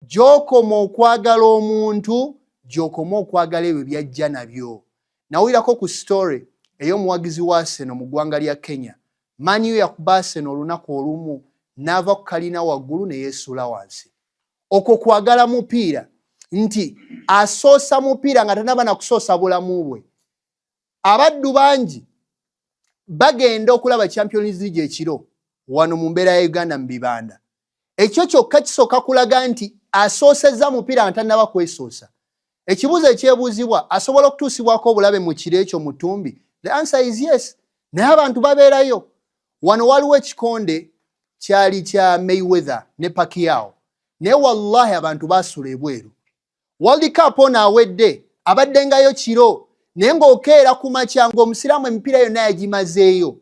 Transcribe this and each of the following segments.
gyokoma okwagala omuntu gyokoma okwagala ebyo byajja nabyo nawulirako ku story ey'omuwagizi wa seno mu ggwanga lya kenya maniyo yakuba seno olunaku olumu n'ava ku kalina waggulu ne yeesuula wansi okwo kwagala mupiira nti asoosa mupiira nga tanaba nakusoosa bulamu bwe abaddu bangi bagenda okulaba champions league ekiro wano mu mbeera ya uganda mu bibanda ekyo kyokka kisooka kulaga nti asoosezza mupiira nga tannaba kwesoosa ekibuuzo ekyebuuzibwa asobola okutuusibwako obulabe mu kiro ekyo mu ttumbi the answer is yes naye abantu babeerayo wano waliwo ekikonde kyali kya mayweather ne pakiao naye wallahi abantu baasula ebweru World Cup ono awedde abaddengayo kiro naye ng'okeera ku makya ng'omusiraamu emipiira yonna yagimazeeyo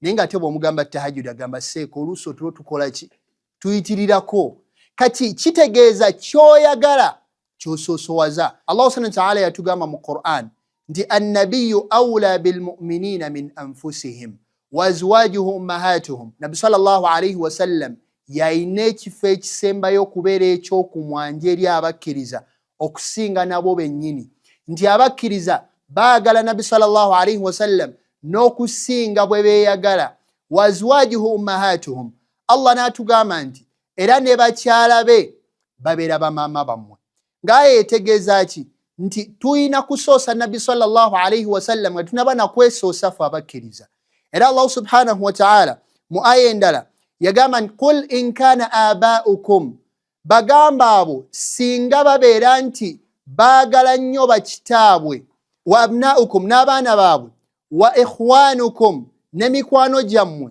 naye ng'ate bw'omugamba tahajudi agamba seeka oluusi otulo tukola ki tuyitirirako kati kitegeeza kyoyagala kyosoosowaza allahu subhana wataala yatugamba mu quran nti annabiyu aula bilmuminina min anfusihim waazwajuhu ummahatuhum nabbi salllahu alaihi wasallam yalina ekifo ekisembayo okubeera ekyokumwanja eri abakkiriza okusinga nabo bennyini nti abakkiriza baagala nabbi salllahu alaihi wasallam n'okusinga bwe beeyagala waazwajuhu ummahatuhum allah n'atugamba nti era ne bakyala be babeera bamaama bammwe ngaayo etegeeza ki nti tulina kusoosa nabbi salllahu alaihi wasallam nga tunaba nakwesoosa fe abakkiriza era allahu subhanahu wataala mu aya endala yagamba nti qul in kana abaukum bagamba abo singa babeera nti baagala nnyo bakitaabwe wa abnaukum n'abaana baabwe wa ikhwanukum ne mikwano gyammwe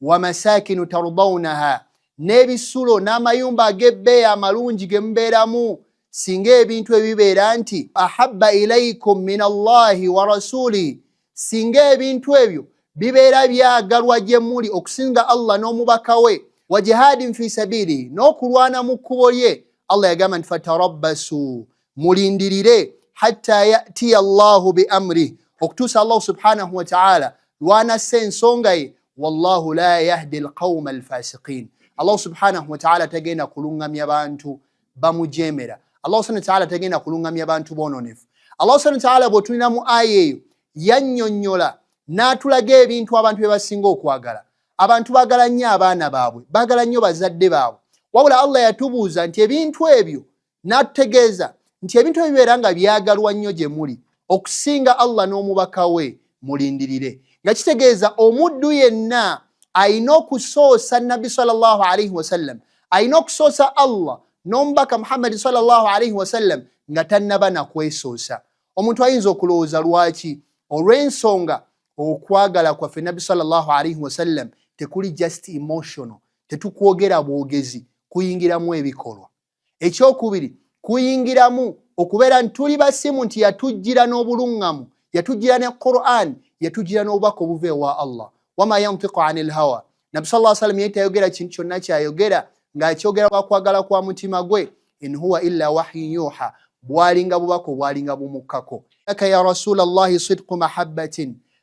wamasakinu tardaunaha n'ebisulo n'amayumba ag'ebbeeyi amalungi ge mubeeramu singa ebintu ebibeera nti ahabba ilaikum min allahi wa rasuli singa ebintu ebyo bibeera byagalwa gye muli okusinga allah n'omubaka we wa jihaadin fi sabiili n'okulwana mu kkubo lye allah yagamba nti fatarabbasu mulindirire hatta yatiya llahu biamrih okutuusa allahu subhanahu wataala lwanassa ensonga ye wallahu la yahdi lqauma alfasiqin allahu subhanahu wataala tagenda kulungamya bantu bamujemera allahu subhana wataala tagenda kulungamya bantu bononefu allahu subhana wataala bwetulina mu aya eyo yanyonyola n'atulaga ebintu abantu bye basinga okwagala abantu bagala nnyo abaana baabwe bagala nnyo bazadde baabwe wabula allah yatubuuza nti ebintu ebyo n'atutegeeza nti ebintu ebyo bibeera nga byagalwa nnyo gye muli okusinga allah n'omubaka we mulindirire nga kitegeeza omuddu yenna alina okusoosa nabbi salllah alaihi wasallam alina okusoosa allah n'omubaka muhammadi salllah alaihi wasallam nga tannaba nakwesoosa omuntu ayinza okulowooza lwaki olw'ensonga okwagala kwaffe nabbi salllah alaihi wasallam tekuli just emotional tetukwogera bwogezi kuyingiramu ebikolwa ekyokubiri kuyingiramu okubeera nti tuli basimu nti yatujjira n'obuluŋŋamu yatujjira ne quran yatujjira n'obubaka obuva ewa allah wama yantiku ani lhawa nabbi sa llah sallam yali tayogera kintu kyonna kyayogera ng'akyogera lwakwagala kwa mutima gwe in huwa illa wahyin yuha bwalinga bubaka obwalinga bumukkako laka ya rasula llahi sidqu mahabbatin